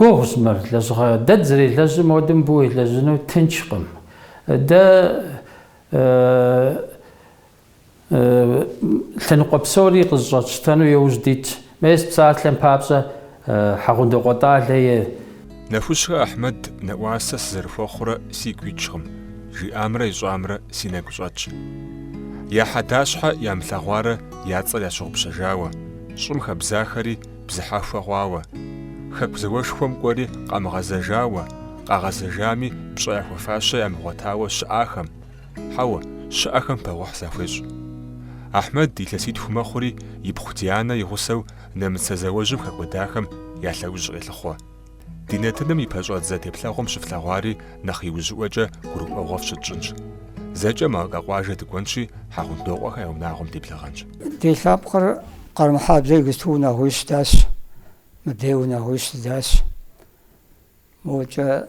Гугъущ мыр, лэжьыгъэ. Дэ дызэрелэжьым хуэдэу мыбы уелэжьыну тынчкъым. Дэ Лъэныкъуэ псори къызыщӏэтщтэну иужь дитщ. Мес псалъэм папщӏэ, Хьэгъундокъуэ Тӏалэ и. Нэхущхэ Ахьмэд нэӏуасэ сызэрыхуэхъурэ сигу икӏкъым, жиӏамрэ ищӏамрэ си нэгу щӏэтщ. Я хьэдащхьэ ямылъэгъуарэ я цӏэр ящыгъупщэжауэ, щӏым хэбзахэри бзыхьэхуэ хъуауэ, Хэку зауэшхуэм кӏуэри къамыгъэзэжауэ, къагъэзэжами пщӏэ яхуэфащэ ямыгъуэтауэ щыӏахэм, Хьэуэ, щыӏэхэм пэгъухь захуещӏ. Ахьмэд илъэситху мэхъури, ипхъу Дианэ и гъусэу нэмыцэ зауэжьым хэкӏуэдахэм я лъэужь къелъыхъуэ. Ди нэтыным и пэщӏэдзэ теплъэгъуэм щыфлъэгъуари нэхъ иужьыӏуэкӏэ гурыӏуэгъуэ фщытщӏынщ. Зэкӏэ Малкэ къуажэ дыкӏуэнщи, Хьэгъундокъуэхэ я унагъуэм деблэгъэнщ. Ди лъэпкъыр Къармэхьэблэ игысту унагъуищ здащ, мыбдей унагъуищ здащ. Мокӏэ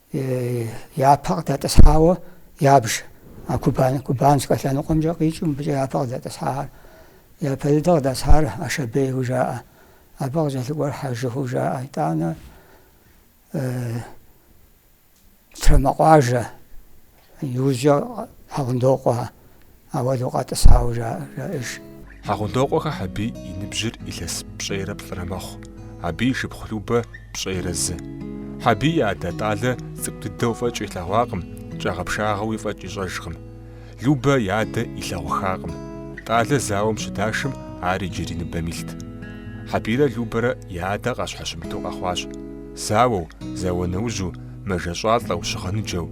Япэ къыдэтӏысхьауэ ябж, а Кубан, Кубанскэ лъэныкъуэмкӏэ къикӏыу мыбыкӏэ япэ къыдэтӏысхьахэр. Япэ дыдэ къыдэсхьар Ашэбейу жаӏэ. Абы къыкӏэлъыкӏуэр Хьэжыху жаӏэ. Итӏанэ Трамэкъуажэ. Иужькӏэ Хьэгъундокъуэ ауэдэу къэтӏысауэ жаӏэж. Хьэгъундокъуэхэ Хьэбий и ныбжьыр илъэс пщӏейрэ плӏырэ мэхъу, абы и шыпхъу Любэ пщӏейрэ зы. Хьэбий и адэ Тӏалэ цӏыкӏу дыдэу фӏэкӏ илъэгъуакъым, кӏагъэпшагъэуи фӏэкӏ ищӏэжкъым. Любэ и адэ илъэгъуххакъым. Тӏалэ зауэм щыдашым, ар иджыри ныбэм илът. Хьэбийрэ Любэрэ я адэ къащхьэщымыту къэхъуащ. Зауэу, зауэ нэужьу, мэжэщӏалӏэу, щыгъыныджэу.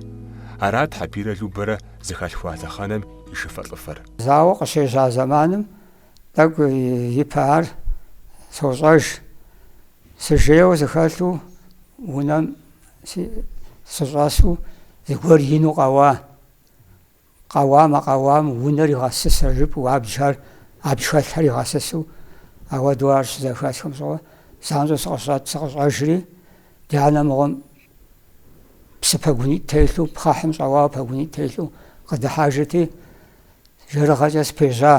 Арат Хьэбийрэ Любэрэ зыхалъхуа лъэхъэнэм и шыфэлӏыфэр. Зауэ къыщежьа зэманым тӏэкӏу ипэ ар сощӏэж. Сыжейуэ сыхэлъу унэм сыщӏэсу зыгуэр ину къэуа. Къэуамэ, къэуам, унэр игъэсысэ жыпӏэу абджхэр, абдж хэлъхэр игъэсысу, ауэдэу ар щызэхэсхым щыгъуэ, занщӏэу сыкъыщӏэжри, ди анэ мыгъуэм псы пэгунитӏ телъу, пхъэхьым щӏэуауэ пэгунитӏ телъу къыдыхьэжырти, жэрыгъэкӏэ спежьа,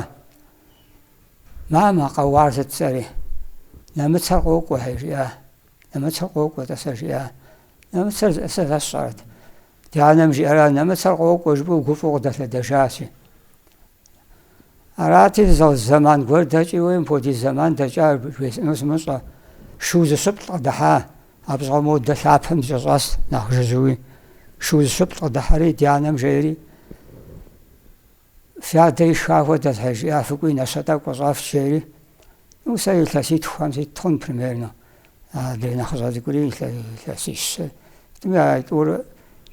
Мамэ, къэуар сыт жысӏэри? Нэмыцэр къокӏуэхэ, жиӏа. Нэмыцэр къокӏуэ, тӏасэ, жиӏа. Нэмыцэр зищӏысыр сэ сщӏэрэт? Ди анэм жиӏэра, нэмыцэр къокӏуэ жыпӏэу гуфӏэу къыдэлъэдэжащи. Арати, зэман гуэр дэкӏи, уей, мыпхуэдиз зэман дэкӏа, жесӏэну сымыщӏэ. Шу зыщыплӏ къыдыхьа, абы щыгъуэ модэ лъапэм дыкӏэщӏэс нэхъ жыжьэуи. Шу зыщыплӏ къыдыхьэри, ди анэм жери. Фи адэ ишха хуэдэт, хьэ, жиӏа Фыкӏуи нэщэ тӏэкӏу къыщӏэфч жери. Ну, сэ илъэситхухэм сит хъун примерно. Адрей нэхъыщӏэ цӏыкӏури илъэсищ сэ. Тӏуми а тӏур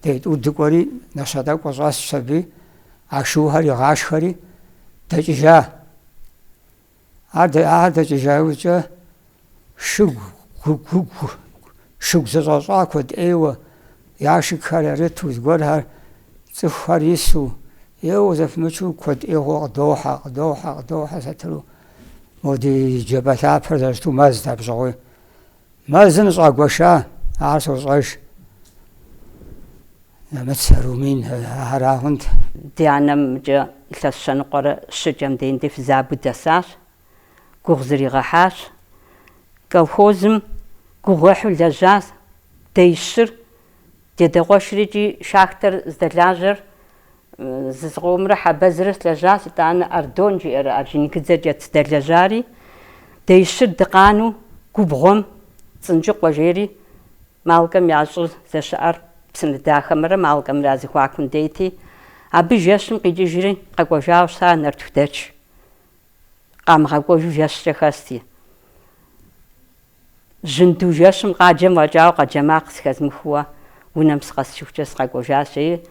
дей тӏур дыкӏуэри нэщэ тӏэкӏу къыщӏэтчщ аби, а шухэр игъашхэри дэкӏыжа. Ар ахэр дэкӏыжа иужькӏэ шыгу гугу шыгу зэщӏэщӏа куэд ӏейуэ яшыкхэр ярыту, зыгуэрхэр цӏыхухэр ису, еуэ зэпымычу куэд ӏейгъуэ къыдохьэ, къыдохьэ, къыдохьэ сатыру. Мо ди джабэ лъапэр зэрыщыту мэзт абы щыгъуи. Мэзым щӏагуэша, ар сощӏэж. Нэмыцэ, румын арагъунт. Ди анэм икӏи илъэс щэ ныкъуэрэ щыкӏэм деинди фызабэу дэсащ. Гугъу зригъэхьащ. Колхозым гугъуехьу лэжьащ дей щыр. Ди адэ къуэшыр икӏи шахтэр здэлажьэр Зызыкъомрэ Хьэбэзрэ щылэжьащ, итӏанэ Ардон жиӏэрэ Орджоникидзэкӏэ здэлэжьари, деищыр дыкъанэу губгъуэм Цӏынджыкъуэ жери, Малкэм я щӏыр здэщыӏэр Псынэдахэмрэ Малкэмрэ я зэхуакум дейти, абы жэщым къикӏыжри къэкӏуэжауэ щыта нартыхудэч къамыгъэкӏуэжу жэщкӏэ хэсти. Жьынду жэщым къаджэм фӏэкӏауэ къэджэ макъ зэхэзмыхыуэ унэм сыкъэсыжыхукӏэ сыкъэкӏуэжащ, жери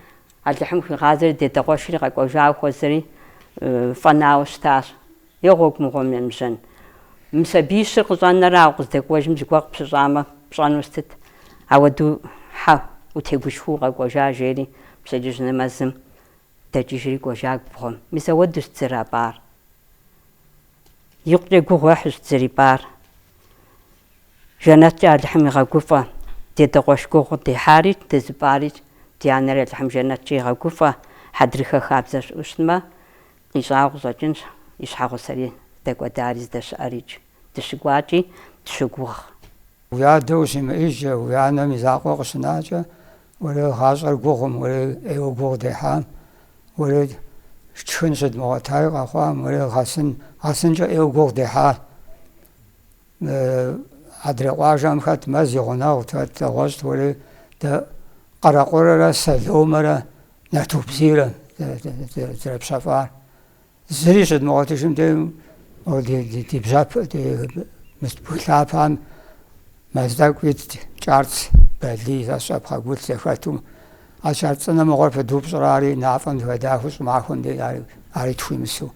Алыхьым хуигъазэри ди адэ къуэшри къэкӏуэжауэ хуэзэри фӏэнауэ щытащ. Е гъуэгу мыгъуэм емыжьэн. Мы сабий щыр къыщӏэнэрэ ауэ укъыздэкӏуэжым зыгуэр къыпщыщӏамэ, пщӏэну сытыт? Ауэдэу хьэ, утегушхуэу укъэкӏуэжа, жери пщэдджыжь нэмэзым дэкӏыжри кӏуэжа губгъуэм. Мис ауэдэущ дызэрапӏар. Икъукӏэ гугъу ехьущ дызэрипӏар. Жэнэткӏэ Алыхьым игъэгуфӏэ. Ди адэ къуэш гугъу къыддехьари, дызыпӏари ди анэри Алыхьым жэнэткӏэ игъэгуфӏэ. Хьэдрыхэ хабзэ щыӏэу щытмэ, къищӏагъу щӏэкӏынщ и щхьэгъусэри здэкӏуэдари здэщыӏэрикӏ. Дыщыкӏуакӏи дыщыгугъ. Уи адэ ущимыӏыжкӏэ, уи анэм и закъуэ къыщынакӏэ, Уэрэ гъащӏэр гугъум, уэрэ ӏейуэ гугъу дехьам, уэрэ тшхын щыдмыгъуэтаи къэхъуам, уэрэ гъэсын, гъэсынкӏэ ӏейуэ гугъу дехьа. Адрей къуажэм хэт мэз и гъунэгъут, хэт дэгъуэщӏт, уэрэ дэ къэрэкъурэрэ сэломэрэ нартыху бзийрэ дызэрыпщэфӏар. Зыри щыдмыгъуэтыжым де ди бжьэпэ ди мыст бгы лъапэм мэз тӏэкӏу итт, кӏарц, балий зэщӏэ пхъэгулъ зэхэту. А кӏарц цӏынэ мыгъуэр пыдупщӏрэ ари, нафӏэм зыхэдахыу щӏымахуэм де ари тхуимысу.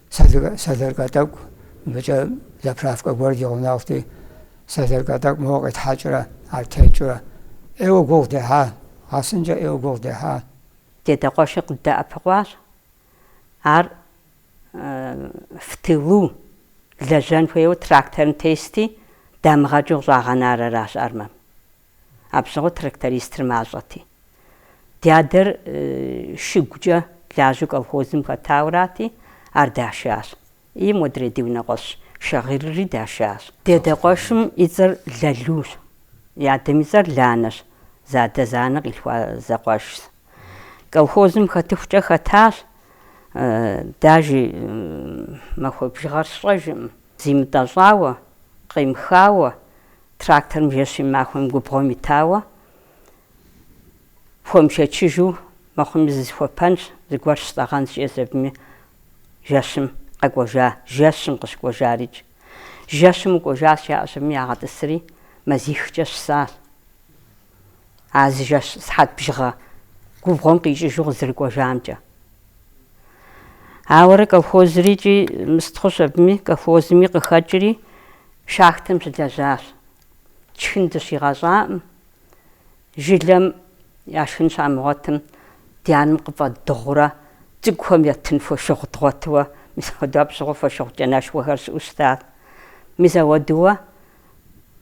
Сэлэркэ тӏэкӏу, мыбыкӏэ заправкэ гуэр ди гъунэгъути, сэлэркэ тӏэкӏу мыгъуэ къитхьэкӏрэ, ар теткӏэрэ. ӏейуэ гугъу дехьа, гъэсынкӏэ ӏейуэ гугъу дехьа. Ди адэ къуэшыр къыддэӏэпыкъуащ, ар в тылу лэжьэн хуейуэ тракторым тести, дамыгъэкӏыу щӏагъэнар аращ армэм. Абы щыгъуэ трактористыр мащӏэти. Ди адэр шыгукӏэ лажьэу колхозым хэтаурати, ар дашащ. И модрей ди унэкъуэщ Шагъирри дашащ. Ди адэ къуэшым и цӏэр Лалущ, си адэм и цӏэр Ланэщ, зы адэ-зы анэ къилъхуа зэкъуэшщ. Колхозым хэтыхукӏэ хэтащ, дажи махуэ бжыгъэр сщӏэжкъым, зимытӏэщӏауэ, къемыхауэ, тракторым жэщи махуэм губгъуэм итауэ хуэмышэчыжу мыхъуми зысхуэпэнщ, зыгуэр щыстӏэгъэнщ жиӏэщ абыми жэщым къэкӏуэжа, жэщым къыщыкӏуэжарикӏ. Жэщым укӏуэжащ, жаӏэщ абыми ягъэтӏысри мазихкӏэ щысащ. А зы жэщ сыхьэт бжыгъэ губгъуэм къикӏыжу къызэрыкӏуэжамкӏэ. Ауэрэ колхозрикӏи мыст хъущ абыми, колхозми къыхэкӏри, шахтэм щылэжьащ. Тшхын дыщигъэщӏакъым, жылэм я шхын щамыгъуэтым, ди анэм къыфӏэддыгъурэ, цӏыкӏухэм еттын фошыгъу дгъуэтыуэ, мис ауэду абы щыгъуэ фошыгъу кӏанэшхуэхэр щыӏэу щытат. Мис ауэдууэ.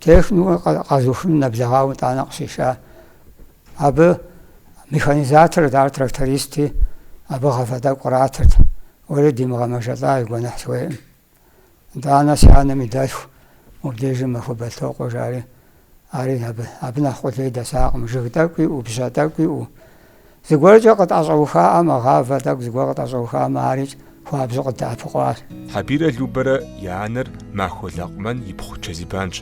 Техникумыр къэзухыным нэблэгъауэ итӏанэ къыщиша. Абы механизаторт, ар трактористи, абы гъавэ тӏэкӏу къратырт. Уэри димыгъэмэжэлӏа и гуэныхь сыхуейкъым. Итӏанэ си анэм и дэлъху мыбдежым Махуэ Бэлтокъуэ жари, ари абы, абы нэхъ къулей дэсакъым, жыг тӏэкӏу иӏэу, бжьэ тӏэкӏу иӏэу. Зыгуэркӏэ къытӏэщӏэухаӏэм а гъавэ тӏэкӏу зыгуэр къытӏэщӏэухаӏэм арикӏ хуабжьу къыддэӏэпыкъуащ. Хьэбирэ Любэрэ я анэр Махуэ Лакъумэн и пхъу Чэзибанщ.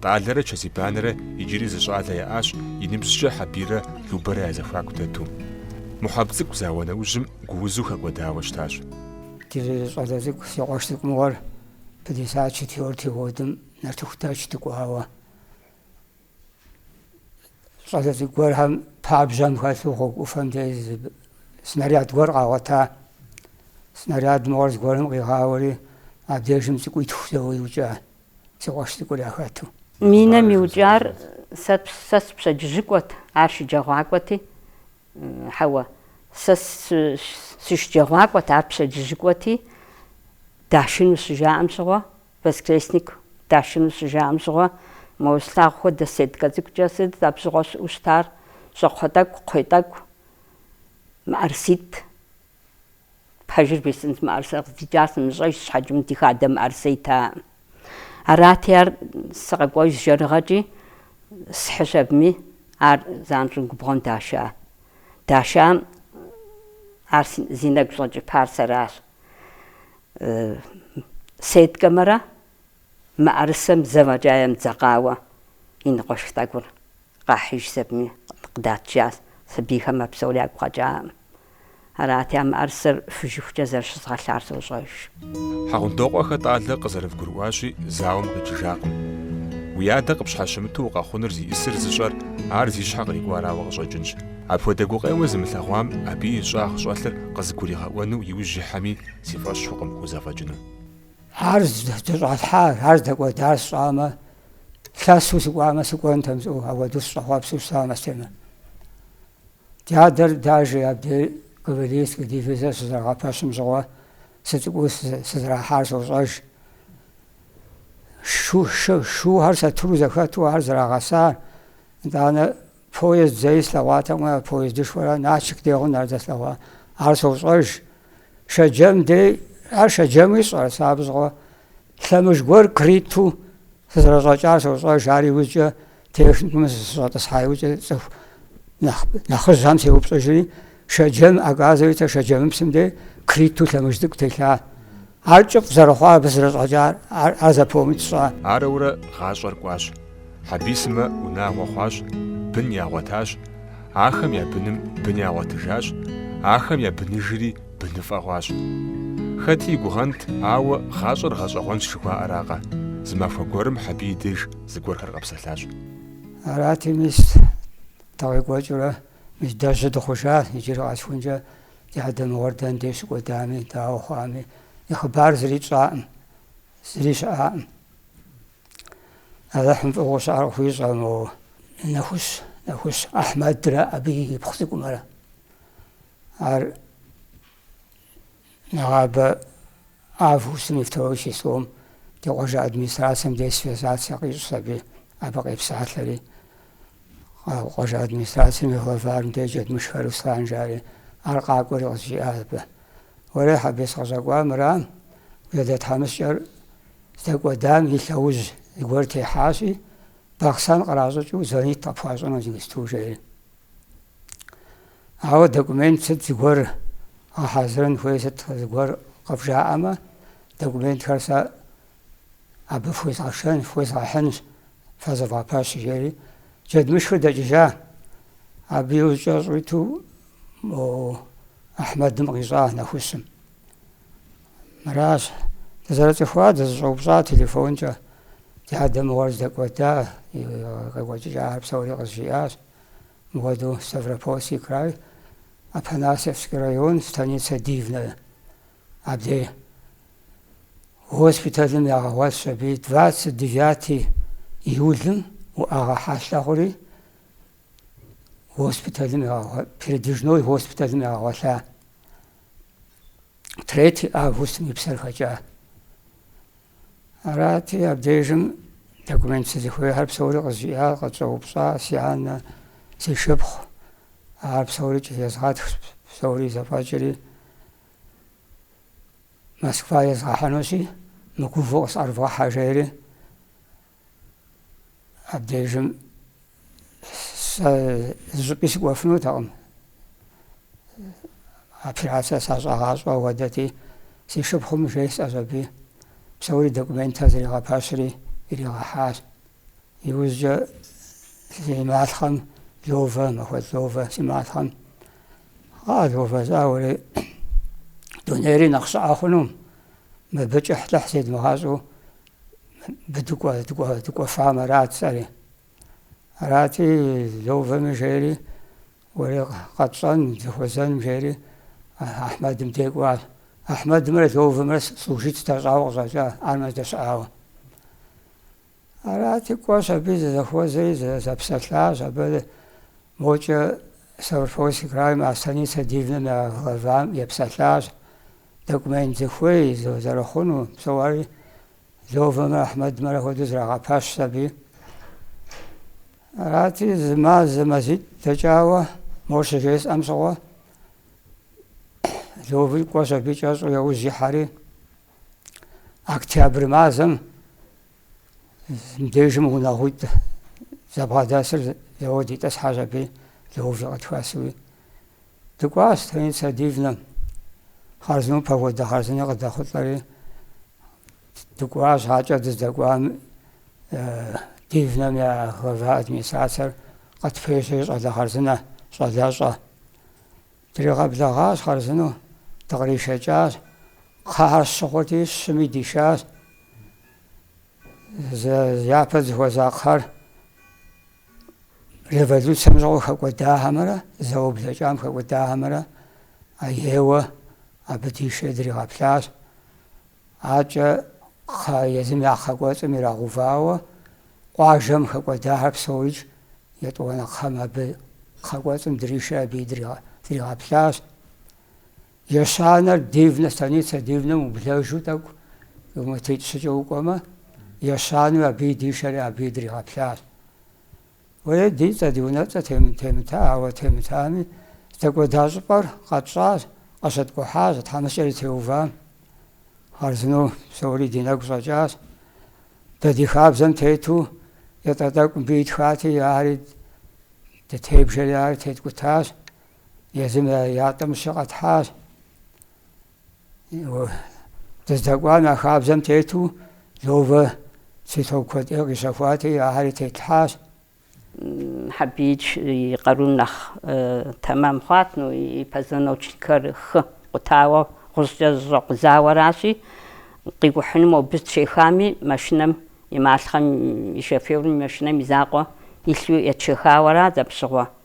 Тӏалэрэ Чэзибанрэ иджыри зы щӏалэ яӏащ и ныбжькӏэ Хьэбирэ Любэрэ я зэхуаку дэту. Мухьэб цӏыкӏу зауэ нэужьым гуузу хэкӏуэдауэ щытащ. Ди зы щӏалэ цӏыкӏу, си къуэш цӏыкӏу мыгъуэр пятьдесят четвёртый годым нартыху дэч дыкӏуауэ. щӏалэ цӏыкӏу гуэрхэм пабжьэм хэлъу гъуэгу ӏуфэм дей снаряд гуэр къагъуэта. Снаряд мыгъуэр зыгуэрым къигъауэри, абдежым цӏыкӏу итху зэуэ иукӏа, си къуэш цӏыкӏур яхэту. Минэм иукӏар сэ сэ сыпщэдджыжьыкӏуэт, ар шэджэгъуакӏуэти, хьэуэ, сэ сышэджэгъуакӏуэт, ар пщэдджыжьыкӏуэти, дашыну щыжаӏэм щыгъуэ, Воскресник дашыну щыжаӏэм щыгъуэ, моуэ слъагъу хуэдэ сеткэ цӏыкӏукӏэ сыт абы щыгъуэ щыӏэу щытар, щӏакхъуэ тӏэкӏу, кхъуей тӏэкӏу, мыӏэрыситӏ, пэжыр бжесӏэнт, мыӏэрысэ къыздикӏар сымыщӏэж щхьэкӏэм ди хадэ мыӏэрысэ итаӏым. Арати ар сыкъэкӏуэжщ жэрыгъэкӏи схьыщ абыми, ар занщӏэу губгъуэм даша. Дашам ар зи нэгу щӏэкӏыпар сэращ. Сеткэмэрэ мыӏэрысэм зэ фӏэкӏа емыдзэкъауэ и ныкъуэшх тӏэкӏур къахьыжщ абыми къыдатыжащ, сабийхэм а псори ягу къэкӏаӏым. Арати, а мыӏэрысэр фыжыхукӏэ зэрыщызгъэлъар сощӏэж. Хьэгъундокъуэхэ Тӏалэ къызэрывгурыӏуащи, зауэм къикӏыжакъым. Уи адэ къыпщхьэщымыту укъэхъунур зиӏысыр зыщӏэр ар зи щхьэ кърикӏуарауэ къыщӏэкӏынщ. Апхуэдэ гукъеуэ зымылъэгъуам абы и щӏагъ щӏэлъыр къызыгуригъэӏуэну и ужь ихьэми, Си фӏэщ хъукъым хузэфӏэкӏыну. Ар здыщӏалъхьар, ар здэкӏуэдар сщӏамэ, лъэсу сыкӏуамэ, сыкӏуэнтэм жысӏэу, ауэду сыщӏэхъуэпсу щытам Астемэ. Дядэр даже абдей кавалерийскэ дивизэр щызэрагъэпэщым щыгъуэ сыцӏыкӏуу сызэрахьар сощӏэж. Шухэр сатыру зэхэту ар зэрагъэсар, итӏанэ Поезд зэи слъэгъуатэкъым а поездышхуэрэ Налшык дегъу нэр зэслъэгъуа. Ар сощӏэж. Шэджэм дей, ар Шэджэмуи сщӏэрэ сэ абы щыгъуэ лъэмыж гуэр крыту сызэрыщӏэкӏар сощӏэж, ар иужькӏэ техникумым сыщӏэтӏысхьа иужькӏэ цӏыху нэхъыжьхэм сеупщӏыжри, Шэджэм, оказывается, Шэджэмыпсым дей крыту лъэмыж цӏыкӏу телъа. Ар кӏыфӏ зэрыхъуар абы зэрыщӏэкӏар, ар запомнить сщӏа. Арэурэ гъащӏэр кӏуащ. Хьэбий сымэ унагъуэ хъуащ, бын ягъуэтащ, ахэм я быным бын ягъуэтыжащ, ахэм я быныжри быныфӏэ хъуащ. Хэти и гугъэнт, ауэ гъащӏэр гъэщӏэгъуэнщ жыхуаӏэракъэ? Зы махуэ гуэрым Хьэбий деж зыгуэрхэр къэпсэлъащ. Арати, мис, дыкъекӏуэкӏыурэ, мис, дэ жьы дыхъужа, иджыри къэсыхункӏэ. Ди адэ мыгъуэр дэндей щыкӏуэдами, дауэ хъуами, и хъыбар зыри тщӏакъым, зыри щыӏакъым. Алыхьым фӏыгъыу щыӏэр къыхуищӏэ мо Нэхущ, Нэхущ Ахьмэдрэ абы и ипхъу цӏыкӏумрэ. Ар нэгъабэ августым и второй числом ди къуажэ администрацием дей связаться къищӏс аби, абы къепсалъэри. къуажэ администрацэм и главарым дей Джэдмышх Руслан жари, ар къакӏуэри къызжиӏащ абы. Уэрэ Хьэбей сыкъыщӏэкӏуа мыра, уи адэ тхьэмыщкӏэр здэкӏуэдам и лъэужь зыгуэр техьащи, Бахъсэн къращӏыкӏыу звонит къыпхуащӏыну Зингисту жери. Ауэ документ сыт зыгуэр гъэхьэзырын хуей сыт зыгуэр къывжаӏэмэ, документхэр сэ абы фхуезгъэшэн, фхуезгъэхьынщ, Фэ зэвгъэпэщ, жери Джэдмышхыр дэкӏыжа. Абы и ужькӏэ щӏиту мо Ахьмэдым къищӏа Нэхущым. Мыращ, дызэрыцӏыхуа, дызэщӏэупщӏа телефонкӏэ. Ди адэ мыгъуэр здэкӏуэда, къекӏуэкӏыкӏахэр псори къызжиӏащ. Мыгъуэду Ставропольский край, Апанасьевский район, станицэ Дивная. Абдей госпиталым ягъэгъуэлъщ аби, двадцать девятый июлым уӏэгъэ хьэлъэ хъури, госпиталым ягъэгъуа, передвижной госпиталым ягъэгъуэлъа. Третий августым и псэр хэкӏа. Арати, абдежым документ сызыхуейхэр псори къызжиӏа, къытщӏэупщӏа си анэ, си шыпхъу, ар псорикӏ езгъэтхщ, псори зэфӏэкӏри, Москва езгъэхьынущи, мыгувэу къысӏэрывгъэхьэ, жери абдежым сэ зыщӏыпӏи сыкӏуэфынутэкъым. Операцэ сащӏагъащӏэ хуэдэти, си шыпхъум жесӏэщ аби, псори документхэр зригъэпэщри, иригъэхьащ. Иужькӏэ си малъхъэм Ловэ, Махуэд Ловэ си малъхъэм Ловэ, жызоӏэри, дунейри нэхъ щӏыӏэ хъуну, мыбы кӏыхьлӏыхь зедмыгъэщӏу дыкӏуэфам арат сэри. Арати, Ловэми жери, уэри къэтщӏэн, зыхуэзэным жери, Ахьмэдым дей кӏуащ. Ахьмэдымрэ Ловэмрэ служит зэдащӏауэ къыщӏэкӏа, армэ зэдыщыӏауэ. Арати, кӏуэщ аби зызэхуэзэри зэпсэлъащ. Абы мокӏэ Ставропольский крайм а станицэ Дивнэм я главам епсэлъащ. Документ зыхуей, зэрыхъуну, псори Лёвэмрэ Ахьмэдмрэ хуэдэу зрагъэпэщщ аби. Арати, зы мазэ мазитӏ дэкӏауэ мо щыжесӏэм щыгъуэ Лёви кӏуэщ аби кӏэщӏу яужь ихьэри, октябрь мазэм мдежым унагъуитӏ зэбгъэдэсыр зэуэ дитӏысхьащ аби Лёвэжьи къытхэсуи дыкӏуащ станицэ Дивнэм. Хъарзынэу погодэ хъарзыни къыдэхъулӏэри дыкӏуащ акӏэ дыздэкӏуам Дивнэм я глава администрацэр къытпежьэри щӏалэ хъарзынэ, щӏалэщӏэ. Дригъэблэгъащ хъарзынэу, дыкъришэкӏащ. Кхъэхэр щы хъурти, щыми дишащ. Япэ зыхуэза кхъэр революцэм щыгъуэ хэкӏуэдахэмрэ зауэ блэкӏам хэкӏуэдахэмрэ а еуэ абы дишэ дригъэплъащ. Акӏэ кхъэ езым я кхъэ кӏуэцӏым ирагъэувауэ, къуажэм хэкӏуэдахэр псоикӏ етӏуанэ кхъэм абы кхъэ кӏуэцӏым дришэ абыи дригъэплъащ. Ещанэр Дивнэ, станицэ Дивнэм ублэжу тӏэкӏу километритӏ-щыкӏэ укӏуэмэ, ещанэу абыи дишэри абыи дригъэплъащ. Уей, ди цӏэ, ди унэцӏэ темыта, ауэ, темытами, здэкӏуэда щӏыпӏэр къэтщӏащ, къыщыткӏухьащ тхьэмыщкӏэри теувам. Хъарзынэу псори ди нэгу щӏэкӏащ. Дэ ди хабзэм тету ятӏэ тӏэкӏу мыбы итхати, ари дытебжэри, ари теткӏутащ, езым я ятӏэм щыщ къэтхьащ. Дыздэкӏуам я хабзэм тету Лёвэ цветок куэд ӏей къищэхуати, ахэр тетлъхьащ. Хьэбиидж и къарум нэхъ тэмэм хъуат, ну и позвоночникхэр хэкъутауэ гъущӏкӏэ зэщӏэкъузауэращи, къикӏухьыну мобы етшэхами, машинэм и малъхъэм и шоферым и машинэм и закъуэ илъу етшэхауэрат, зэпщыгъуэ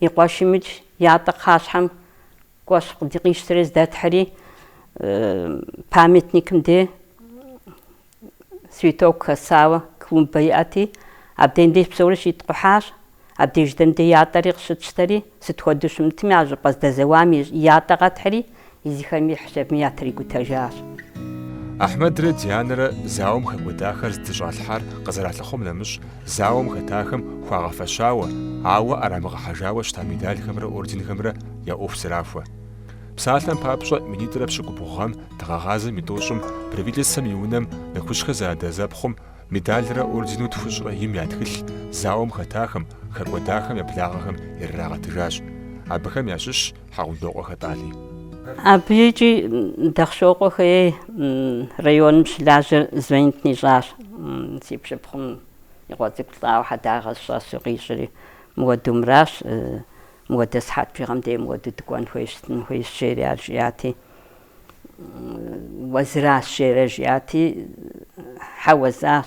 И къуэшымикӏ ятӏэ кхъащхьэм кӏуэщ къыди къищтэри здэтхьри, памятникым де цветок хэсауэ клумбэ иӏэти, абдеим деж псори щиткъухьащ. Абдеж дэм де ятӏэри къыщытщтэри, сыт хуэдэу щымытми, а щӏыпӏэ здэзэуам и ятӏэ къэтхьри, езыхэми хьэщэбми ятрикӏутэжащ. Ахьмэдрэ Дианэрэ зауэм хэкӏуэдахэр здыщӏалъхьар къызэралъыхъуэм нэмыщӏ, зауэм хэтахэм хуагъэфэщауэ, ауэ ӏэрамыгъэхьэжауэ щыта медалхэмрэ орденхэмрэ я ӏуэху зэрахуэ. Псалъэм папщӏэ, минитӏрэ пщыкӏубгъу гъэм дыгъэгъазэм и тӏощӏым Правительствэм и Унэм Нэхущхэ зэадэзэпхъум медалрэ ордену тхущӏрэ им я тхылъ зауэм хэтахэм, хэкӏуэдахэм я благъэхэм ирырагъэтыжащ. Абыхэм ящыщщ, Хьэгъундокъуэ хэтӏали. Абы икӏи Дахъшокъуэхэ ей районым щылажьэр звонит нищӏащ, си пщыпхъум и къуэ цӏыкӏу лӏауэ хьэдагъэ сыщӏэсу къищӏэри, мыуэду мыращ, мыуэдэ сыхьэт бжыгъэм дей мыуэду дыкӏуэн хуейщ, стын хуейщ жери ар жиӏати, уэ зыращ жери жиӏати, хьэуэ жысӏащ.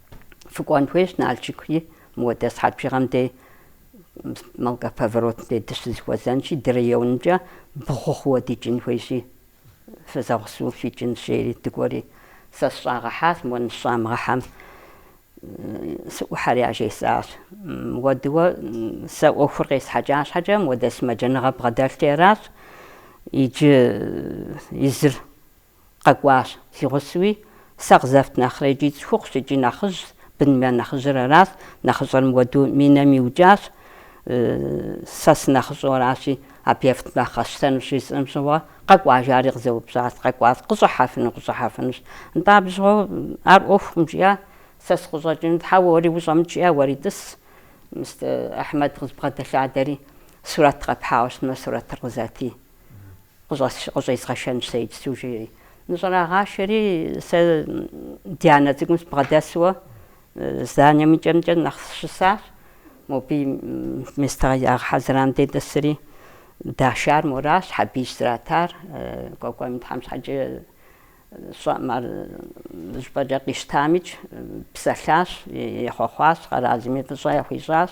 Фыкӏуэн хуейщ Налшыки, мыуэдэ сыхьэт бжыгъэм дей Малка поворотым дей дыщызэхуэзэнщи, ди районымкӏэ бгъу хъууэ дикӏын хуейщи, фызэгъусэу фикӏынщ, жери дыкӏуэри. Сэ сыщӏагъэхьащ, мыуэ ныщӏамыгъэхьэм сыӏухьэри яжесӏащ. Мыуэдыуэ сэ ӏуэхур къесхьэкӏа щхьэкӏэ, мыуэдэ сымаджэныгъэ бгъэдэлъти аращ. Иджы езыр Къэкӏуащ, си гъусэуи, сэ къызэфт нэхърэ икӏи цӏыхухъущ икӏи нэхъыжьщ, быным я нэхъыжьыр аращ, нэхъыщӏэр мыуэду минэм иукӏащ, сэ сынэхъыщӏэу аращи, абы ефтмэ нэхъ къэсщтэнущ жысӏэм щыгъуэ, Къэкӏуа, жари къызэупщӏащ, къэкӏуащ, Къыщӏыхьэфыну, къыщӏыхьэфынущ, нтӏэ абы щыгъуэу ар ӏуэхукъым жиӏа, сэ сыкъыщӏэкӏыну, хьэуэ, уэри ущӏэмыкӏ жиӏа, уэри тӏыс, мис, Ахьмэд къызбгъэдэлъадэри, сурэт къэпхьауэ щытмэ, сурэтыр къызэти. Къыщӏезгъэшэнщ сэ иджыпсту, жери. Ныщӏэрагъашэри, сэ Дианэ цӏыкӏум сыбгъэдэсуэ зданием и кӏэмкӏэ нэхъ щысащ. Мобы местэ ягъэхьэзырам дей дэсри, дашар моращ, Хьэбийщ зратар. Кӏуэкӏуэм, Тхьэм щхьэкӏэ, Щӏэм ар щӏыпӏэкӏэ къищтамикӏ, псэлъащ, ехъуэхъуащ, къэралми фӏыщӏэ яхуищӏащ.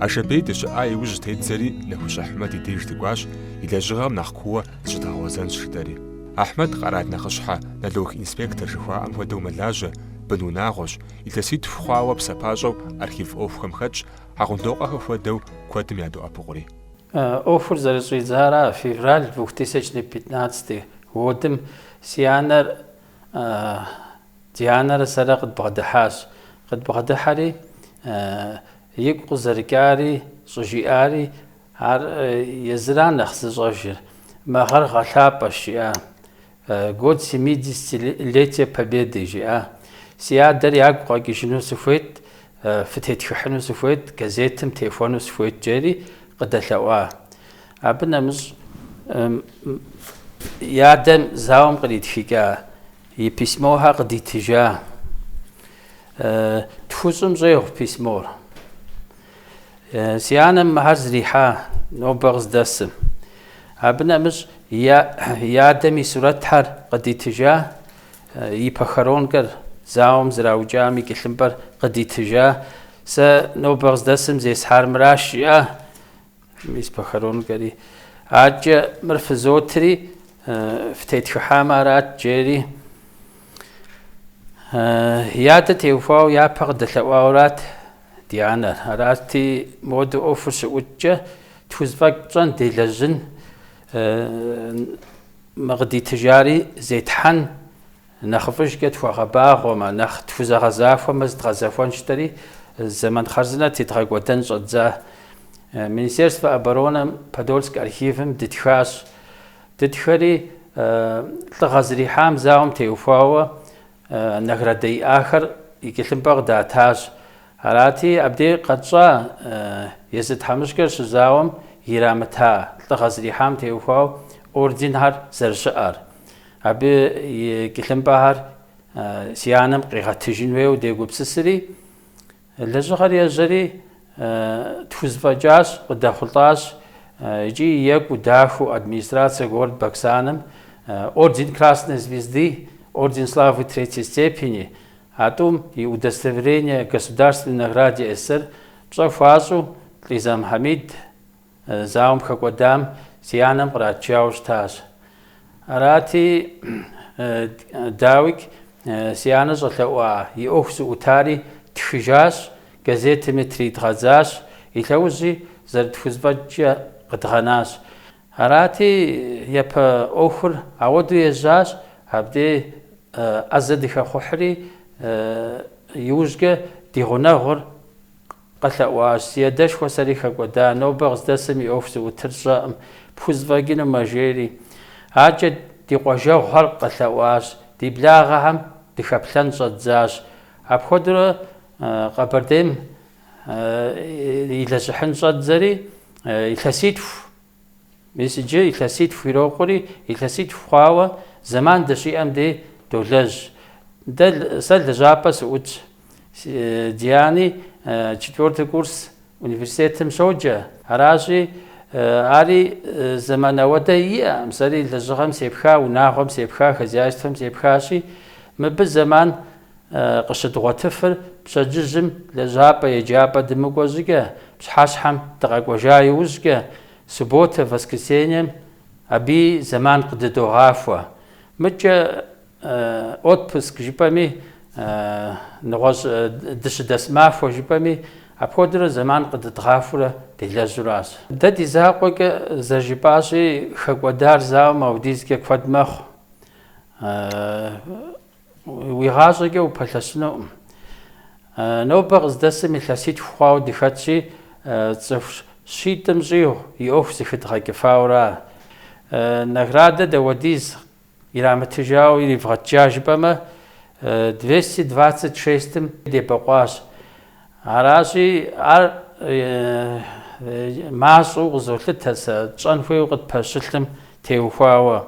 Ашэбей дыщыӏа иужь тедзэри Нэхущ Ахьмэд и деж дыкӏуащ, и лэжьыгъэм нэхъ кууэ Зыщыдгъэгъуэзэнщ, жытӏэри. Ахьмэд къэрал нэхъыщхьэ, налог инспектор жыхуаӏэм хуэдэу мэлажьэ, бын унагъуэщ, илъэситху хъуауэ псапащӏэу архив ӏуэхухэм хэтщ, Хьэгъундокъуэхэ хуэдэу куэдым ядоӏэпыкъури. ӏуэхур зэрыщӏидзара, февраль двухтысячнэ пятнадцатый годым си анэр Дианэрэ сэрэ къыдбгъэдыхьащ. Къыдбгъэдыхьэри, игу къызэрыкӏари щӏыжиӏари, Ар езыра нэхъ зыщӏэжыр. Мы гъэр гъэлъапӏэщ, жиӏа. Год семидесятилетие Победы, жиӏа. Си адэр ягу къэкӏыжыну сыхуейт, фытетхыхьыну сыхуейт, газетым техуэну сыхуейт, джери къыдэлъэӏуа. Абы нэмыщӏ и адэм зауэм къритхыкӏа и письмохэр къыдитыжа. Тхущӏым щӏегъу письмор. Си анэм мыхьэр зрихьа нобэ къыздэсым. Абы нэмыщӏ и адэм и сурэтхьэр къыдитыжа, и похоронкэр зауэм зраукӏам и кӏылъымпӏэр къыдитыжа. Сэ нобэ къыздэсым зесхьар мыращ, жиӏа. Мис похоронкэри адэкӏэ мыр фызотри, фытетхыхьамэ арат, джери. И адэ теухуауэ япэ къыдэлъэӏуаурат ди анэр. Арати, моду ӏуэхур щыӏукӏкӏэ, тхузэфӏэкӏ тщӏэн делэжьын, мы къыдитыжари зетхьэн. Нэхъыфӏыжкӏэ тхуэгъэбагъуэмэ, нэхъ тхузэгъэзахуэмэ здгъэзэхуэнщ, жытӏэри, зэман хъарзынэ тедгъэкӏуэдэн щӏэддза. Министерствэ оборонэм Подольск архивым дытхащ. Дытхэри, лӏыгъэ зрихьам зауэм теухуауэ наградэ иӏахэр и кӏылъымпӏэ къыдатащ. Арати, абдей къэтщӏа езы тхьэмыщкӏэр щызауэм ирамыта лӏыгъэ зрихьам теухуауэ орденхэр зэрыщыӏэр. Абы и кӏылъымпӏэхэр си анэм къигъэтыжын хуейуэ дегупсысри, лэжьыгъэр ежьэри, тхузэфӏэкӏащ, къыдэхъулӏащ икӏи екӏуу дахэу администрация город Баксаным орден Красной Звезды, орден Славы Третьей степени, а тӏум и удостоверение Государственной награде СССР пщӏэ хуащӏу Лизэм, Хьэмид, Зауэм хэкӏуэдам си анэм къратыжауэ щытащ. Арати, дауикӏ, си анэ щӏэлъэӏуа и ӏуэху зыӏутари ттхыжащ, газетыми тридгъэдзащ, и лъэужьи зэрытхузэфӏэкӏкӏэ къыдгъэнащ. Арати, япэ ӏуэхур ауэдэу ежьащ, абдей ӏэзэ дыхэхъухьри, иужькӏэ ди гъунэгъур Къэлъэӏуащ, Си адэшхуэ сэри хэкӏуэда, нобэ къыздэсым и ӏуэху зыӏутыр сщӏэкъым, пхузэфӏэкӏынумэ жери. Адкӏэ ди къуажэгъухэр къэлъэӏуащ, ди благъэхэм дыхэплъэн щӏэддзащ. Апхуэдэурэ Къэбэрдейм илэжьыхьын щӏэддзэри, илъэситху Мис иджы илъэситху ирокъури, илъэситху хъуауэ зэман дыщиӏэм дей долэжь. Дэ, сэ лэжьапӏэ сыӏутщ. Диани четвертый курс университетым щоджэ. Аращи, ари зэман ауэдэ иӏэкъым, сэри лэжьыгъэм сепха, унагъуэм сепха, хозяйствэм сепхащи, мыбы зэман къыщыдгъуэтыфыр пщэдджыжьым лэжьапӏэ-еджапӏэ дымыкӏуэ щӏыкӏэ, пщыхьэщхьэм дыкъэкӏуэжа иужькӏэ, субботэ, воскресеньем абыи зэман къыдыдогъахуэ. Мыдкӏэ отпуск жыпӏэми, нэгъуэщӏ дыщыдэс махуэ жыпӏэми, апхуэдэурэ зэман къыдыдгъахурэ делэжьуращ. Дэ ди закъуэкӏэ зэрыжыпӏащи, хэкӏуэдар зауэм аудизкӏэ куэд мэхъу. Уи гъащӏэкӏэ упэлъэщынукъым. Нобэ къыздэсым илъэситху хъуауэ дыхэтщи, цӏыху щитӏым щӏигъу и ӏуэху зыхыдгъэкӏыфауэра. Наградэ дауэдиз ирамытыжауэ иривгъэтыжа жыпӏэмэ, двести двацать шестым дебэкъуащ. Аращи, ар мащӏэу къызолъытэ сэ тщӏэн хуейуэ къытпэщылъым теухуауэ.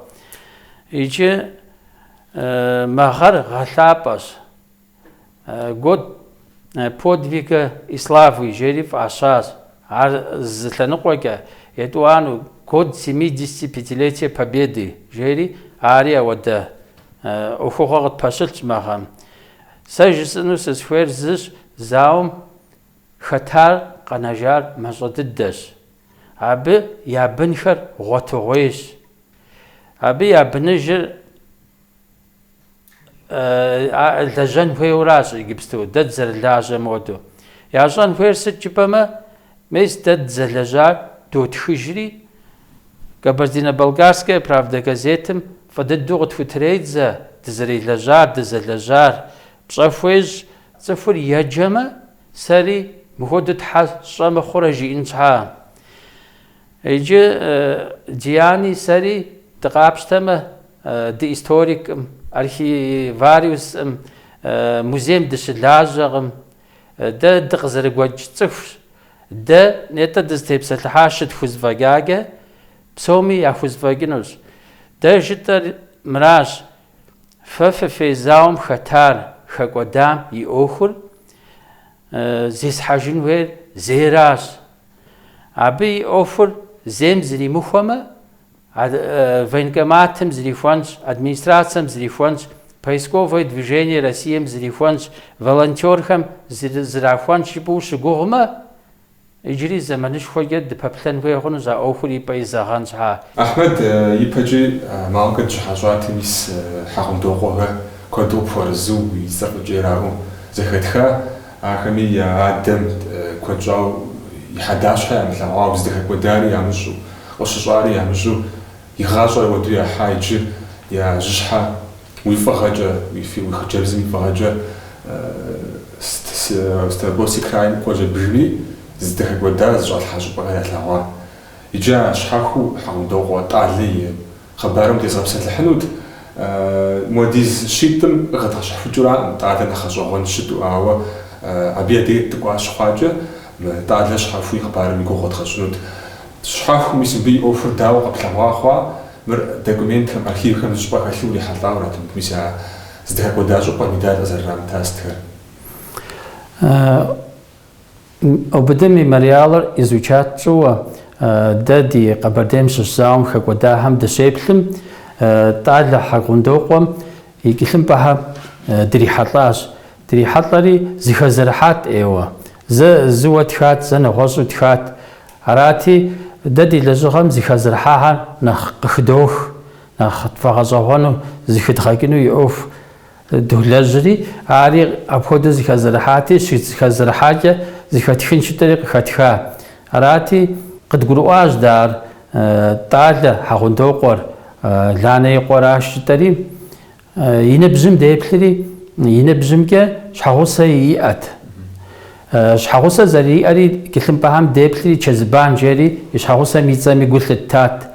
Иджы Мы гъэр гъэлъапӏэщ. Год подвига и славы жери фӏащащ. Ар зы лъэныкъуэкӏэ етӏуанэу Год семидесятипятилетия Победы жери ари ауэдэ ӏуэхугъуэ къытпэщылъщ мы гъэм. Сэ жысӏэну сызыхуейр зыщ, зауэм хэтар къэнэжар мащӏэ дыдэщ. Абы я бынхэр гъуэтыгъуейщ, Абы я быныжыр лэжьэн хуейуэращ иджыпсту, дэ дызэрылажьэм хуэдэу. Ящӏэн хуейр сыт жыпӏэмэ, мис дэ дызэлэжьар дотхыжри, Кабардино-Балкарская правда газетым фӏы дыдэу къытхутредзэ дызэрелэжьар, дызэлэжьар. Пщӏэ хуещӏ, цӏыхур еджэмэ, сэри мыхуэдэу щхьэ сщӏэ мыхъурэ жиӏэн щхьа. Иджы Диани сэри дыкъапщтэмэ, дыисториккъым, архивариускъым, музейм дыщылажьэкъым. Дэ дыкъызэрыгуэкӏ цӏыхущ. Дэ нетӏэ дызытепсэлъыхьар щытхузэфӏэкӏакӏэ, псоми яхузэфӏэкӏынущ. Дэ жытӏэр мыращ, фэ фыфей зауэм хэтар хэкӏуэдам и ӏуэхур зезыхьэжын хуейр зейращ, Абы и ӏуэхур зейм зримыхуэмэ, военкоматым зрихуэнщ, администрацэм зрихуэнщ, поисковое движение Россием зрихуэнщ, волонтерхэм зрахуэнщ жыпӏэу ущыгугъмэ, иджыри зэманышхуэкӏэ дыпэплъэн хуей хъунущ а ӏуэхур и пӏэ изэгъэн щхьа. Ахьмэд ипэкӏи Малкэ дыщыхьэщӏати, мис Хьэгъундокъуэхэр куэду къыпхуэрызу уи цӏэр къыкӏераӏуэу зэхэтха. Ахэми я адэм куэд щӏауэ и хьэдащхьэ ямылъэгъуауэ, здэхэкӏуэдари ямыщӏу, къыщыщӏари ямыщӏу, и гъащӏэр ауэду яхьа иджы я жьыщхьэ уи фӏыгъэкӏэ, уи фи, уи хъыджэбзым и фӏыгъэкӏэ ст ст Ставропольский крайм къоджэ бжыми, здэхэкӏуэдар, зыщӏалъхьа щӏыпӏэхэр ялъэгъуа. Иджы а щхьэхуу Хьэгъундокъуэ Тӏалэ и Хъыбарым тезгъэпсэлъыхьынут, муэдиз щитӏым къыхэдгъэщхьэхукӏыуракъым Тӏалэ нэхъ гъэщӏэгъуэн щыту, ауэ абы я деж дыкӏуа щыхъуакӏэ, Тӏалэ щхьэхуу и хъыбарым и гугъу уэдгъэщӏынут. Щхьэхуу мис мыбы и ӏуэхур дауэ къэплъэгъуа хъуа, мыр документхэм, архивхэм зы щӏыпӏэ хэлъу урихьэлӏауэрат, мыдэ мис а зыдэхэкӏуэда щӏыпӏэр медаль къызэрырамыта сытхэр. ОБД Мемориалыр изучат тщӏыуэ, дэ ди Къэбэрдейм щыщ зауэм хэкӏуэдахэм дыщеплъым, Тӏалэ Хьэгъундокъуэм и тхылъымпӏэхэм дрихьэлӏащ. Дрихьэлӏэри, зыхэзэрыхьат ӏейуэ. Зэ зыуэ тхат, зэ нэгъуэщӏу тхат. Арати, дэ ди лэжьыгъэм зыхэзэрыхьахэр нэхъ къыхыдох, нэхъ тфӏэгъэщӏэгъуэну, зыхыдгъэкӏыну и ӏуэху. Долэжьри, ари апхуэдэу зыхэзэрыхьати, щызыхэзэрыхьакӏэ зыхэтхынщ жытӏэри къыхэтха. Арати, къыдгурыӏуащ дэ ар Тӏалэ Хьэгъундокъуэр, Ланэ и къуэращ жытӏэри. И ныбжьым деплъри, и ныбжьымкӏэ щхьэгъусэ иӏэт. Щхьэгъусэ зэриӏэри, тхылъымпӏэхэм деплъри, Чэзыбан жери и щхьэгъусэм и цӏэми гу лъыттат.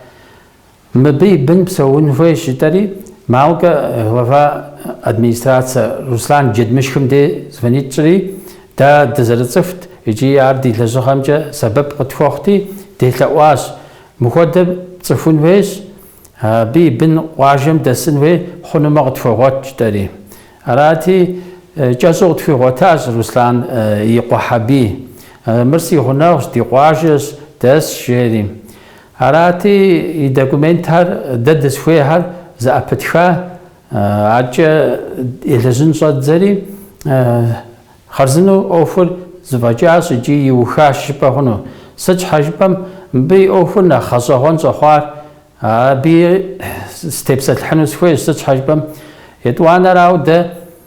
Мыбы и бын псэун хуейщ жытӏэри, Малкэ глава администрацэ Руслан Джэдмышхым де звонит тщӏри, дэ дызэрыцӏыхут икӏи ар ди лэжьыгъэмкӏэ сэбэп къытхуэхъути, делъэӏуащ. Мыхуэдэр пцӏыхун хуейщ, абы и бын къуажэм дэсын хуей хъунумэ къытхуэгъуэт жытӏэри. Арати, кӏэщӏу къытхуигъуэтащ Руслан и къуэ Хьэбий. Мыр си гъунэгъущ, ди къуажэщ, дэсщ, жери. Арати, и документхэр дэ дызыхуейхэр зэӏэпытха аркӏэ елэжьын щӏэддзэри, хъарзынэу ӏуэхур зэфӏэкӏащ икӏи иухащ жыпӏэ хъуну. Сыт щхьэ жыпӏэм, мыбы и ӏуэхур нэхъ гъэщӏэгъуэн щӏэхъуар, абы сытепсэлъыхьыну сыхуейщ, сыт щхьэ жыпӏэм, етӏуанэрауэ дэ,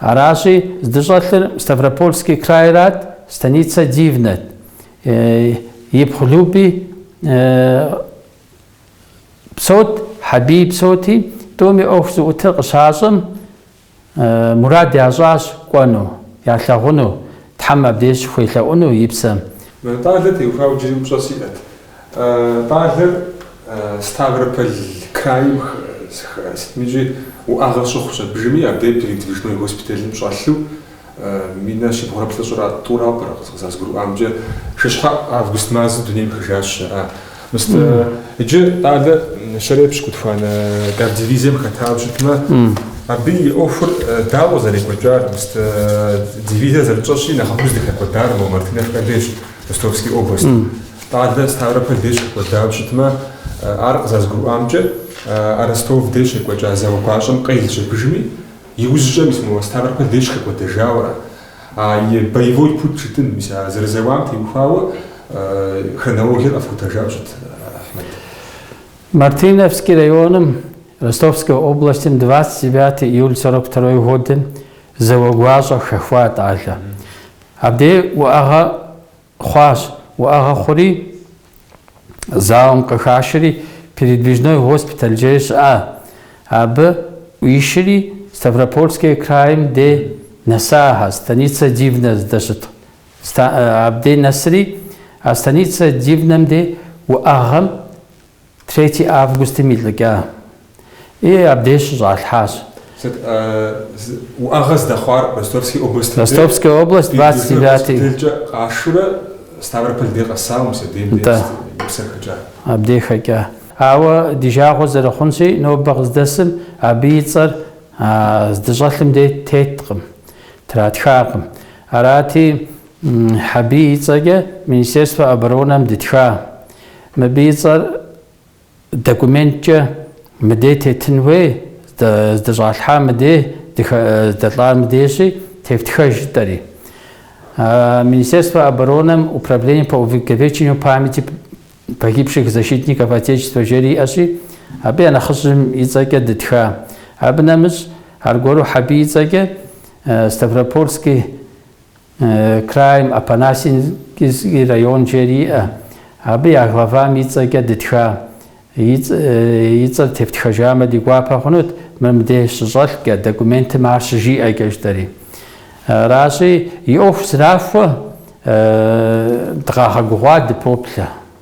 Аращи, здыщӏэлъыр Ставропольский крайрат, станицэ Дивнэт. Ипхъу Люби псэут, Хьэбий псэути, тӏуми ӏуэху зыӏутыр къыщащӏэм, мурад ящӏащ кӏуэну, ялъагъуну, Тхьэм абдеж щыхуелъэӏуну и псэм. Мэрэ Тӏалэ теухуауэ иджыри упщӏэ сиӏэт. Тӏалэр Ставрополь крайм сытми икӏи уӏэгъэ щыхъущ абыжми, абдеж передвижной госпиталым щӏэлъу минэ щибгъурэ плӏыщӏрэ тӏура къызэрызгурыӏуамкӏэ, шыщхьэӏу август мазэм дунейм ехыжащ жаӏэ. Мыста иджы Тӏалэр щэрэ пщыкӏутхуанэ кавдивизием хэтауэ щытмэ, абы и ӏуэхур дауэ зэрекӏуэкӏар, мыста дивизэр зэрытщӏэщи, нэхъыфӏу здыхэкӏуэдар мо Мартыновкэ дейщ. Ростовский область. Тӏалэ Ставрополь деж хэкӏуэдауэ щытмэ, ар къызэрызгурыӏуамкӏэ, а Ростов деж щекӏуэкӏа зауэ гуащӏэм къелщ абыжми, иужьым, мис моуэ Ставрополь деж хэкӏуэдэжауэра? А и боевой путь жытӏэн, мис а зэрызэуам теухуауэ хронологиер къэфхутэжауэ щыт, Ахьмэд? Мартыновский районым, Ростовской областым двадцать девятое июль сорок второй годым зауэ гуащӏэ хэхуа Тӏалэ. Абдей уӏэгъэ хъуащ. Уӏэгъэ хъури, зауэм къыхашэри, передвижной госпиталь жери щыӏа. Абы ӏуишри Ставропольский крайм де нэсахэ, Станица Дивнэ здэщыт. Абдей нэсри, а Станица Дивнэм де уӏэгъэм Третий августым илӏыкӏа. И, абдеж щыщӏалъхьащ. Сыт уӏэгъэ здэхъуар Ростовский областым де? Ростовская область, двадцать девятый. Бедлыхэ госпиталькӏэ къашурэ Ставрополь де къэсауэ мис абдейм де Нтӏэ. и псэр хэкӏа. Абдей хэкӏа. Ауэ ди жагъуэ зэрыхъунщи, нобэ къыздэсым абы и цӏэр а здыщӏэлъым де теткъым, тратхакъым. Арати, Хьэбий и цӏэкӏэ Министерство оборонэм дытха. Мыбы и цӏэр документкӏэ мыдей тетын хуей, здыщӏалъхьар мыдей, здэлӏар мыдейщи, тефтхэж, жытӏэри. Министерствэ оборонэм Управление по увековечению памяти погибших защитников Отечества жери иӏэщи, абы я нэхъыжьым и цӏэкӏэ дытха. Абы нэмыщӏ, аргуэру Хьэбий и цӏэкӏэ Ставропольский Крайм, Апанасенковский район жери иӏэ. Абы я главам и цӏэкӏэ дытха, и цӏэр тептхэжамэ, ди гуапэ хъунут мы мыбдеж щыщӏэлъкӏэ, документым ар щыжиӏэкӏэ жытӏэри. Аращи, и ӏуэху зрахуэ, дыкъагъэгугъуа дыпоплъэ.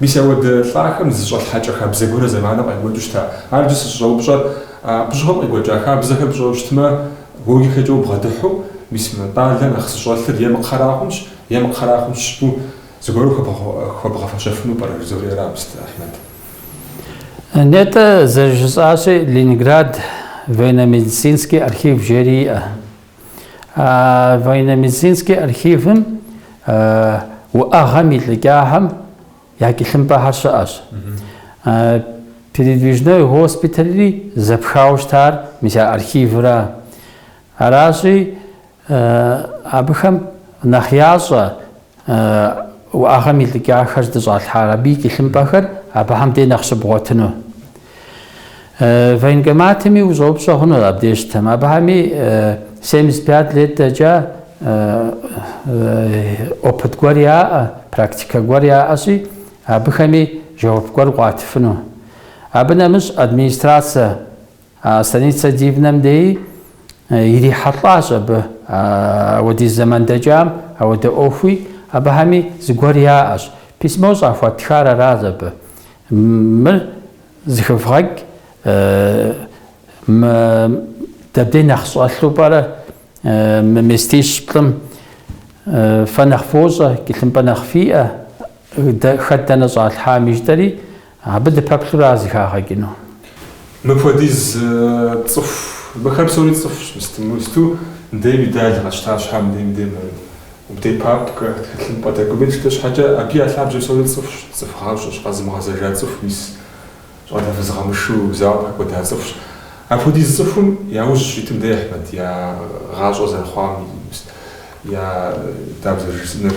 Мис ауэдэ лӏахэм зы щӏэлъхьэкӏэ хабзэ гуэрэ зэманым къекӏуэкӏыу щыта? Ар иджы сыщӏыщӏэупщӏэр, абы щыгъуэм къекӏуэкӏа хабзэхэр пщӏэу щытмэ, логикэкӏэ убгъэдыхьу, мис мы щӏалэр нэхъ зыщӏэлъыр е мы кхъэра хъунщ, е мы кхъэра хъунщ жыпӏэу, зыгуэру хуэбгъэфэщэфыну пӏэрэ, жызоӏэри абы сыт, Ахьмэд. Нетӏэ, зэрыжысӏащи, Ленинград военно-медицинский архив жери иӏэ. А военно-медицинскэ архивым уӏэгъэм илӏыкӏахэм я тхылъымпӏэхэр щыӏэщ. Передвижной госпитальри зэпхауэ щытар мис я архивра. Аращи, абыхэм нэхъ ящӏэ Уӏэгъэм илӏыкӏахэр здыщӏалъхьар, абы и тхылъымпӏэхэр абыхэм де нэхъ щыбгъуэтыну. Военкоматми ущӏэупщӏэ хъуну абдежьтэм. Абыхэми 75 лет дэкӏа опыт гуэр яӏэ, практикэ гуэр яӏэщи, абыхэми жэуап гуэр къуатыфыну. Абы нэмыщӏ администрацэ А станицэ Дивнэм деи ирихьэлӏащ абы ауэдиз зэман дэкӏам ауэдэ ӏуэхуи, абыхэми зыгуэр яӏэщ. Письмо щӏахуэтхар аращ абы. Мыр зыхывгъэкӏ мы дэбдей нэхъ щӏэлъу пӏэрэ, мы местищ-плӏым фэ нэхъ фощӏэ, тхылъымпӏэ нэхъ фиӏэ, хэт дэнэ щӏалъхьами жытӏэри, Абы дыпэплъурэ ар зыхагъэкӏыну. Мыпхуэдиз цӏыху, мыхэр псори цӏыхущ, мысту, мысту мыдейм дэлъ къэтщта щхьэ, мыдей, мыдей, мыдей, мыдей папкэ, тхылъымпӏэ дэкӏуми тщтэ щхьэкӏэ, абы я лъабжьэ псори цӏыхущ, цӏыху гъащӏэщ, къэзымыгъэзэжа цӏыху, мис щӏалэ фыз къэмышэу зауэм хэкӏуэда цӏыхущ. Апхуэдиз цӏыхум яужь щитым дэ, Ахьмэд, я гъащӏэ зэрыхъуам, я, дауэ зэрыжысӏэнур.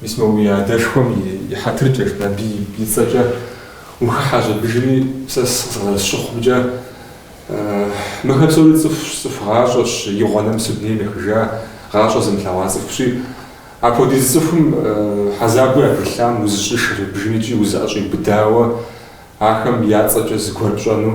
Мис мы уи адэшхуэм и хьэтыркӏэщ Набий и цӏэкӏэ ухыхьэ щӏыбыжри сэ къызэрысщыхъумкӏэ. Мыхэр псори цӏыхущ, цӏыху гъащӏэщ, игъуэ нэмысу дунейм ехыжа, гъащӏэ зымылъэгъуа цӏыхущи. Апхуэдиз цӏыхум хьэзабу ятелъам узыщӏыш рыбжым икӏи узыӏэщӏиубыдауэ ахэм я цӏэкӏэ зыгуэр пщӏэну.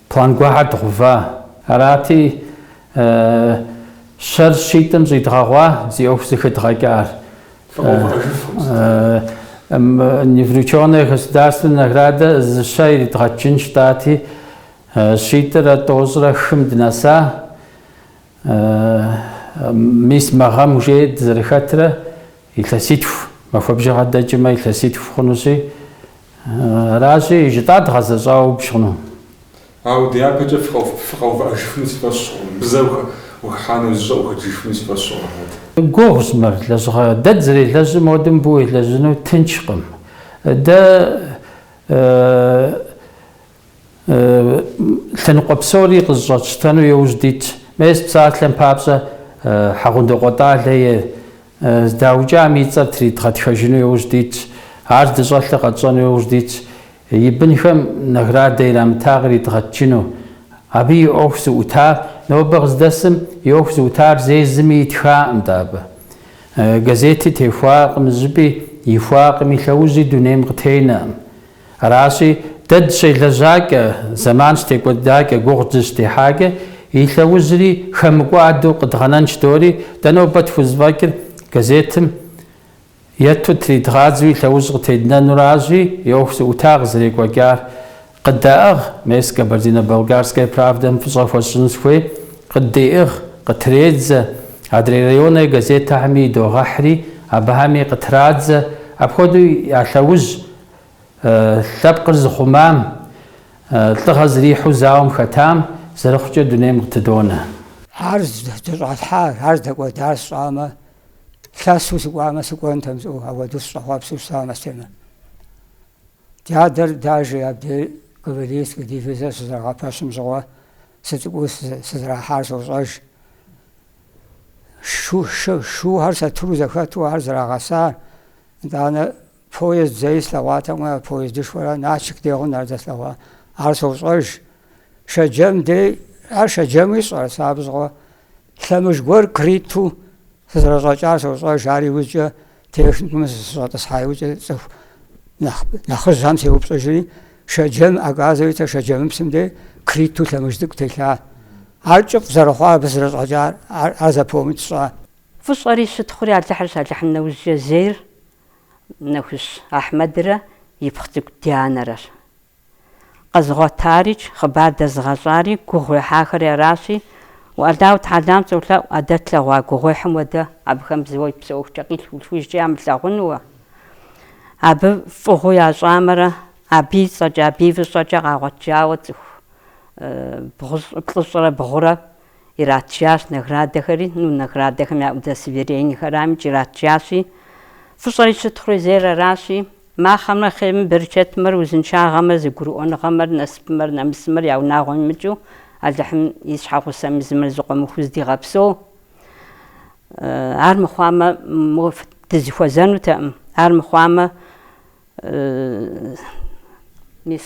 План гуэрхэр дгъэува. Арати, щэр щитӏым щӏидгъэгъуа зи ӏуэху зэхэдгъэкӏар. Неврученная государственная награда зы щэ иридгъэтыжынщ жытӏати, щитӏрэ тӏощӏрэ хым дынэса. Мис мы гъэм уже дызэрыхэтрэ Илъэситху махуэ бжыгъэ дэкӏымэ, илъэситху хъунущи, аращи, жытӏар дгъэзэщӏауэ убж хъуну. Ауэ дяпэкӏэ фыкъэувыӏэжыфыну си фӏэщ хъуркъым, зэ ухыхьа нэужькӏэ ухэкӏыжыфыну си фӏэщ хъуркъым, Мурат. Гугъущ мыр, лэжьыгъэ дэ дызэрелэжьым хуэдэу мыбы уелэжьыну тыншкъым. Дэ Лъэныкъуэ псори къызыщӏэтщтэну иужь дитщ. Мес псалъэм папщӏэ, Хьэгъундокъуэ Тӏалэ здаукӏам и цӏэр тридгъэтхэжыну иужь дитщ. Ар здыщӏэлъыр къэтщӏэну иужь дитщ. И бынхэм наградэ ирамыта къыридгъэтыжыну. Абы и ӏуэху зыӏутар, нобэ къыздэсым и ӏуэху зыӏутар зэи зыми итхакъым дэ абы. Газети техуакъым, зыпӏи ихуакъыми, лъэужьи дунейм къытенэкъым. Аращи, дэ дыщелэжьакӏэ, зэман щытекӏуэдакӏэ, гугъу дыщыдехьакӏэ, и лъэужьри хэмыкӏуадэу къыдгъэнэнщ дори, дэ нобэ тхузэфӏэкӏыр газетым етту тридгъадзэу и лъэужь къытеднэну аращи, и ӏуэху зыӏута къызэрекӏуэкӏар. Къыддеӏыгъ, мес Кабардино-Балкарская правдэм фӏыщӏэ хуэсщӏыну сыхуей, къыддеӏыгъ, къытредзэ, адрей районэ газетхэми идогъэхьри, абыхэми къытрадзэ, апхуэдэу я лъэужь, Лъэпкъыр зыхъумам, лӏыгъэ зэрихьэу зауэм хэтам зэрыхъукӏэ дунейм къытыдонэ. Ар здыщӏалъхьар, ар здэкӏуэдар сщӏамэ, лъэсу сыкӏуамэ, сыкӏуэнтэм жысӏэу, ауэду сыщӏэхъуэпсу щытам Астемэ. Ди адэр даже абдей кавалерийскэ дивизэр щызэрагъэпэщым щыгъуэ сыцӏыкӏуу сызэрахьар сощӏэж. Шуухэр сатыру зэхэту ар зэрагъэсар, итӏанэ Поезд зэи слъэгъуатэкъым а поездышхуэрэ Налшык дегъу нэр зэслъэгъуа. Ар сощӏэж. Шэджэм дей, ар Шэджэмуи щӏэр, сэ абы щыгъуэ лъэмыж гуэр крытэу сызэрэщӏэкӏар сощӏэж, ар иужькӏэ техникумым сыщӏэтӏысхьа иужькӏэ цӏыху нэхъ, нэхъыжьхэм сеупщӏыжри, Шэджэм оказывается Шэджэмыпсым дей крытэу лъэмыж цӏыкӏу телъа. Ар кӏыфӏ зэрыхъуа абы сызэрэщӏэкӏар, ар, ар запомнить сщӏа. Фӏыщӏэри щытхъури Алыхьырщ, Алыхьым нэужькӏэ зейр Нэхущ Ахьмэдрэ и пхъу цӏыкӏу Дианэрэщ. Къэзыгъуэтарикӏ, хъыбар дэзыгъэщӏари, гугъу ехьахэри аращи, Аллаху тэхьэлам солъэӏу, а дэ тлъэгъуа гугъуехьым хуэдэ абыхэм зауэ псэ ӏуэхукӏэ къилъху-лъхужкӏэ ямылъагъунууэ. Абы фӏыгъуэу ящӏамэрэ, абы и цӏэкӏэ, абы и фӏыщӏэкӏэ къагъуэтжауэ цӏыху бгъущӏ, плӏыщӏрэ бгъурэ иратжащ наградэхэри, ну, наградэхэм я удостоверениехэрамикӏ иратжащи, фӏыщӏэри щытхъури зейр аращи, махуэмрэ хъейрымрэ, берычэтымрэ узыншагъэмрэ зэгурыӏуэныгъэмрэ насыпымрэ нэмысымрэ я унагъуэм имыкӏыу Алыхьым и щхьэгъусэм езымрэ зэкъуэмыхуу зэдигъэпсэу. Ар мыхъуамэ, дызэхуэзэнутэкъым, ар мыхъуамэ, мис.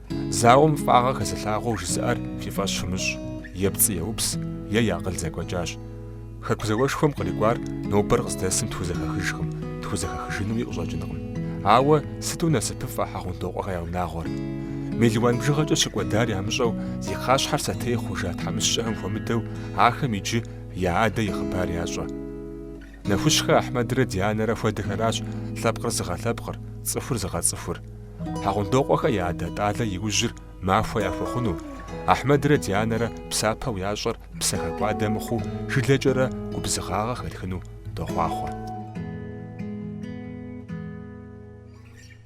Зауэм фӏагъэ хэзылъагъуэу жызыӏэр фи фӏэщ фымыщӏ, е пцӏы еупс, е и акъыл зэкӏуэкӏащ. Хэку зауэшхуэм кърикӏуар нобэр къыздэсым тхузэхэхыжкъым, тхузэхэхыжынуи къыщӏэкӏынкъым. Ауэ сыту насыпыфӏэ Хьэгъундокъуэхэ я унагъуэр! Мелуан бжыгъэкӏэ щыкӏуэдар ямыщӏэу зи кхъащхьэр сэтей хъужа тхьэмыщкӏэхэм хуэмыдэу ахэм иджы я адэ и хъыбар ящӏэ. Нэхущхэ Ахьмэдрэ Дианэрэ хуэдэхэращ лъэпкъыр зыгъэлъэпкъыр, цӏыхур зыгъэцӏыхур. Хьэгъундокъуэхэ я адэ Тӏалэ и ужьыр махуэ яхуэхъуну, Ахьмэдрэ Дианэрэ псапэу ящӏэр псыхэкӏуадэ мыхъуу жылэкӏэрэ губзыгъагъэ хэтхыну дохъуахъуэ.